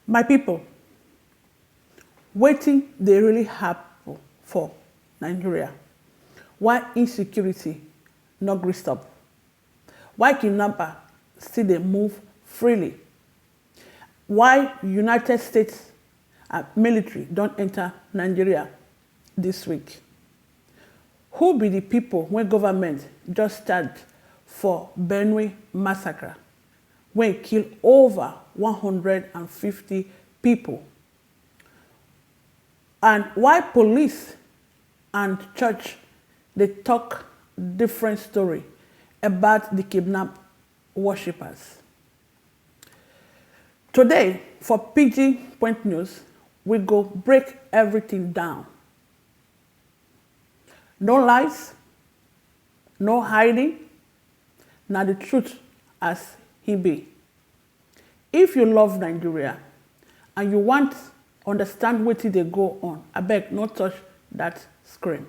My people, wetin dey really happen for Nigeria? Why insecurity no gree stop? Why kidnapper still dey move freely? Why United States and military don enter Nigeria this week? Who be the people wey government just charge for Benue massacre? wey kill over one hundred and fifty pipo and why police and church dey tok different story about di kidnap worshippers. Today for pidgin point news, we go break everything down, no lies, No hiding, na the truth as he be. If you love Nigeria and you want understand wetin dey go on, abeg no touch that screen.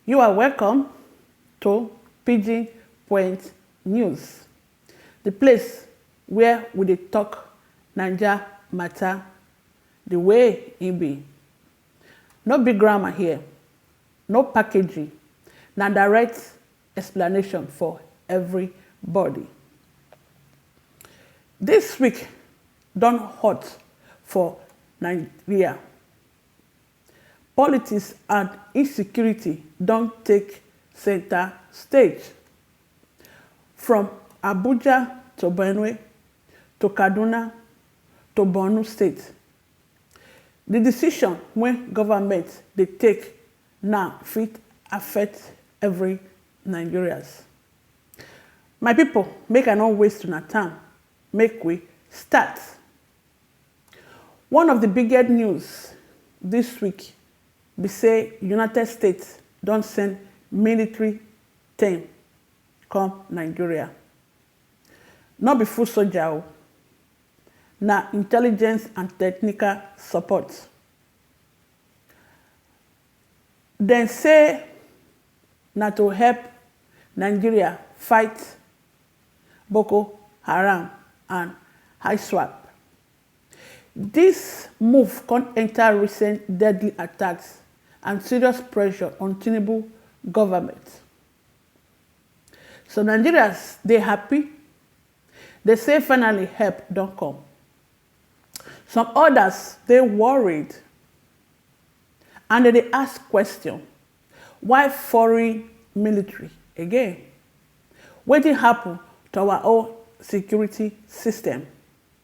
You are welcome to Pidgin Point News. The place where we dey talk Naija matter the way e be. No big grammar here, no packaging, na direct explanation for everybody. This week don hot for Nigeria. Politics and insecurity don take center stage. From Abuja to Benue to Kaduna to Borno state, di decision wey government dey take now fit affect every Nigerians. My people make I no waste una time make we start. One of di biggest news dis week be say United States don send military team come Nigeria. No be foot soldier o, na intelligence and technical support. Dem say na to help Nigeria fight Boko Haram and ISWAP. Dis move come enta recent deadly attacks and serious pressure on Tinubu goment. Some Nigerians dey happy, dey say finally help don come. Some odas dey worried and dem dey ask question, why foreign military again? Wetin happun to our own security system?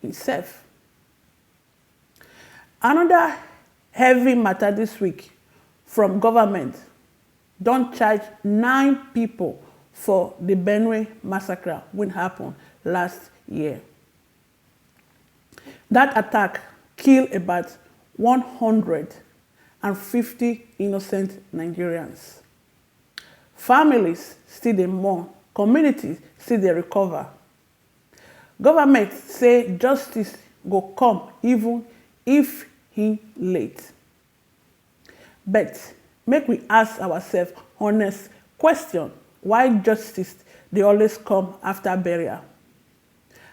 Himself. Another heavy matter this week from government don charge nine people for the Benue massacre wey happen last year. That attack kill about one hundred and fifty innocent Nigerians. Families still dey mourn, communities still dey recover. Government say justice go come even if he late. But make we ask ourself honest question why justice dey always come after burial,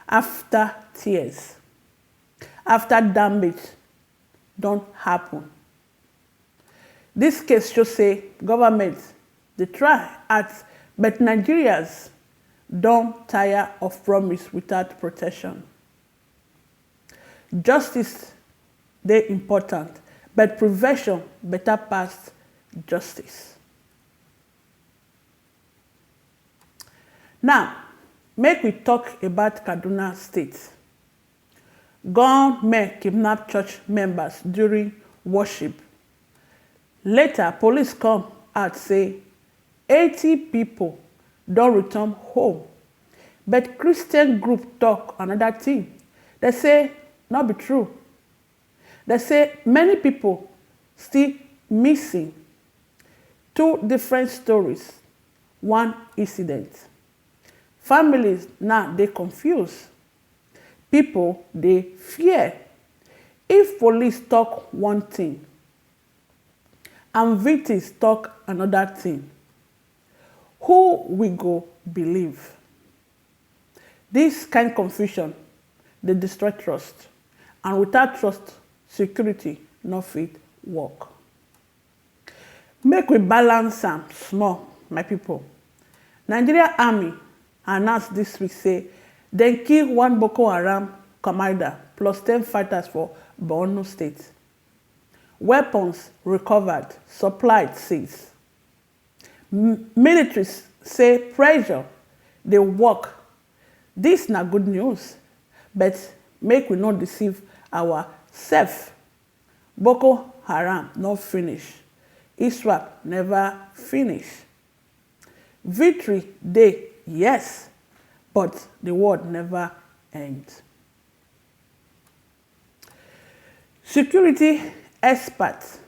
after tears, after damage don happen. Dis case show say government dey try at but Nigerians don tire of promise without protection. Justice dey important but prevention better pass justice. Now make we talk about Kaduna state. Gunmen kidnap church members during worship, later police come add say eighty pipo don return home, but Christian group tok anoda tin, dem say no be true. Dem say many pipo still missing, two different stories, one incident. Families now dey confused Pipo dey fear. If police tok one tin and vtins tok anoda tin, who we go believe? Dis kain confusion dey destroy trust and without trust, security no fit work. Make we balance am small my people, Nigeria army announce this week say dem kill one Boko Haram commander plus ten fighters for Borno state. Weapons recovered, supply seized. Military say pressure dey work, this na good news but make we no deceive our self. Boko Haram no finish, Iswap neva finish. Victory dey yes, but di world neva end. Security expert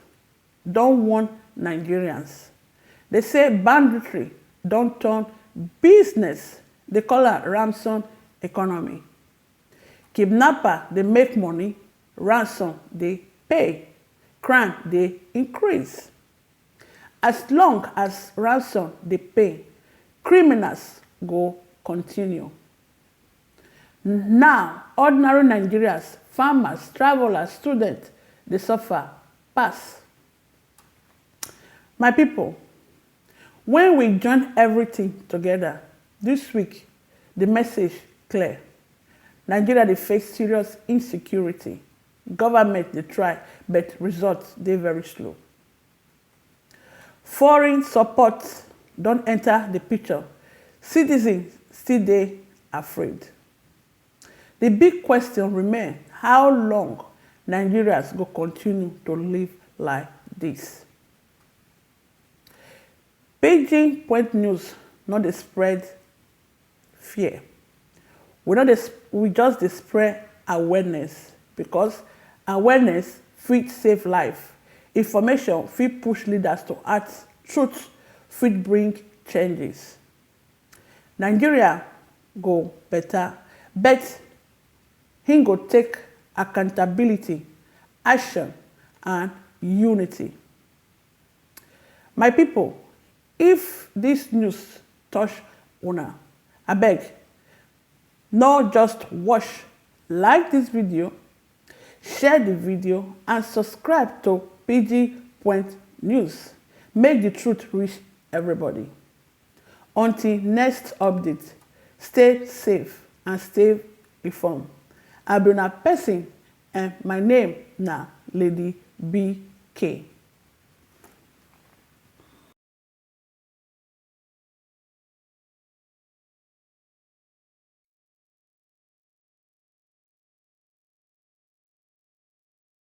don warn Nigerians, dey say banditry don turn business, dey call am Ramson economy. Kidnapper dey make money Ransom dey pay, crime dey increase. As long as ransom dey pay, criminals go continue. Na ordinary Nigerians, farmers, travellers, students dey suffer pass. My pipo, wen we join evritin togeda dis week, di message clear, Nigeria dey face serious insecurity, govment dey try but results dey very slow. Foreign support don enta di picture, citizens still dey afraid. Di big question remain how long Nigerians go kontinu to live like dis? Pidgin Point News no dey spread fear, we no dey we just dey spread awareness because awareness fit save life, information fit push leaders to act, truth fit bring changes. Nigeria go beta but hin go take accountability, action and unity. My pipo if dis news touch una abeg no just watch like dis video, share di video and subscribe to pidginpointnews make di truth reach everybody. Until next update, stay safe and stay inform. I be una person and my name na Lady BK.